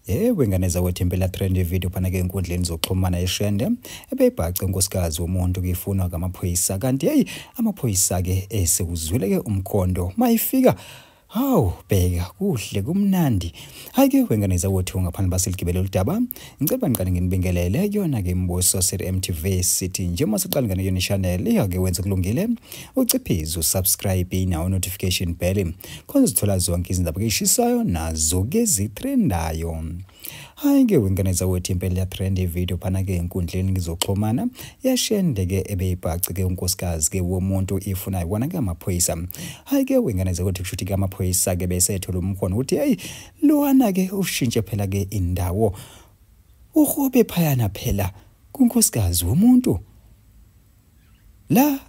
Yebo ingane zakwethu impela trend ivideo phana ke enkundleni zokuxhumana eshende ebeyibhace unkosikazi womuntu kuyifunwa ngamaphoyisa kanti hey amaphoyisa ke esekuzwile ke umkhondo mayifika Hawu bheka kuhle kumnandi. Hayi ke wengane zawethu ngaphandle basiligibele uludaba. Ngicela ngiqale nginibingelele kuyona ke imibuso sir MTV City nje masiqale ngane yona channel iyake wenza kulungile. uciphize usubscribe nawo notification bell khona uzithola zonke izindaba keshisayo nazo ke zitrendayo hayi ke wengane zakwethu impela iyatrenda ividiyo phana ke enkundleni ngizoxhumana yashende ke ebeyibhaci ke unkosikazi ke womuntu ifuna ikona ke amaphoyisa hayi ke wengane zakwethu kushuthi ke amaphoyisa ke bese ethola umkhono ukuthi hayi lowana ke ushintshe phela ke indawo uhobe phayana phela kunkosikazi womuntu la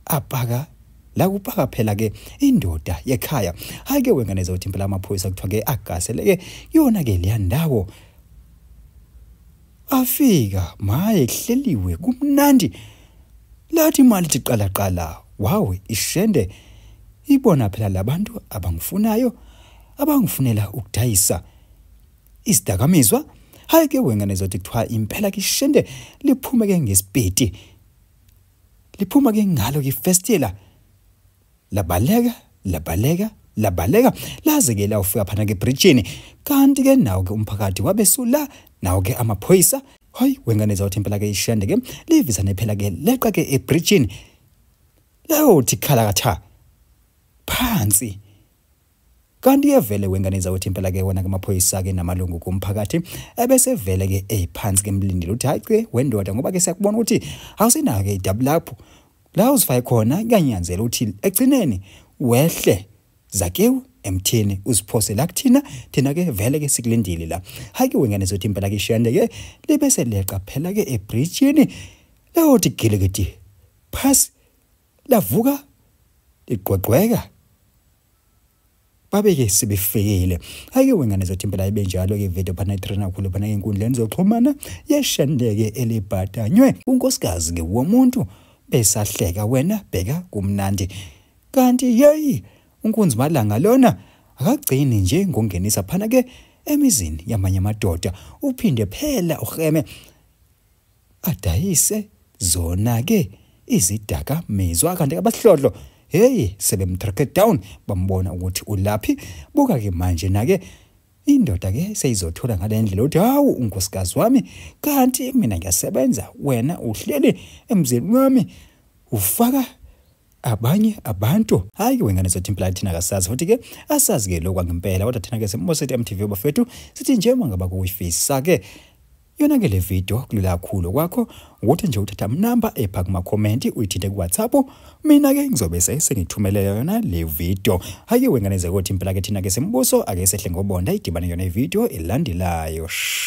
apaka la kupaka phela ke indoda yekhaya hayi ke wengane zothi impela amaphoyisa kuthiwa ke agasele ke yona ke leya ndawo afika maye kuhleliwe kumnandi lathi imali ithi qala qala wawe ishende ibona phela labantu abangifunayo abangifunela ukudayisa isidakamizwa hayi ke wengane zothi kuthiwa impela kishende liphume ke ngesipeti liphuma ke ngalo kifestela labaleka labaleka labaleka laze ke lawufika phana ke bridgini kanti ke nawo ke umphakathi wabesula nawo ke amaphoyisa hayi wengane zawuthi impela ke ishende ke livisa nephela ke leqa ke ebridgini layothi khala katha phansi kanti yevele wengane zakwethu impela ke wona ke maphoyisa ke namalungu kumphakathi ebese vele ke eziphansi ke mlindile uthi hayi ke wendoda ngoba ke siyakubona ukuthi awusenayo ke idabu lapho la uzifake khona kuyanyanzela ukuthi egcineni wehle zakewu emthini uziphose la kuthina thina ke vele ke sikulindile la hayi ke wengane zothi impela ke shende ke libe seleqa phela ke ebridgeini leyothi gilekiti phasi lavuka ligqogqweka babeke sebefikile ake wengane zothi impela ibe njalo ke video phana itrena khulu phana enkundleni zoxhumana yeshandeke elibhatanywe unkosikazi ke womuntu besahleka wena bheka kumnandi kanti yeyi unkunzi malanga lona akagcini nje ngongenisa phana ke emizini yamanye amadoda uphinde phela urheme adayise zona ke izidaka mizwa kanti abahlodlo hey sebemtrack down bambona ukuthi ulaphi buka ke manje nake indoda ke seyizothola ngalendlela uthi hawu unkosikazi wami kanti mina ngiyasebenza wena uhleli emzini wami ufaka abanye abantu hayi ke wengane zethu impela thina kasazi futhi ke asazi ke lokwa ngempela kodwa thina ke semosethi MTV bafethu sithi nje mangaba kuyifisa ke yona ke le video kulula kakhulu kwakho ukuthi nje uthatha number epha kuma comment uyithinte ku WhatsApp mina ke ngizobe sengithumelela yona le video hayi wengane zekothi impela ke thina ke sembuso ake sehle ngobonda idibane yona i video elandelayo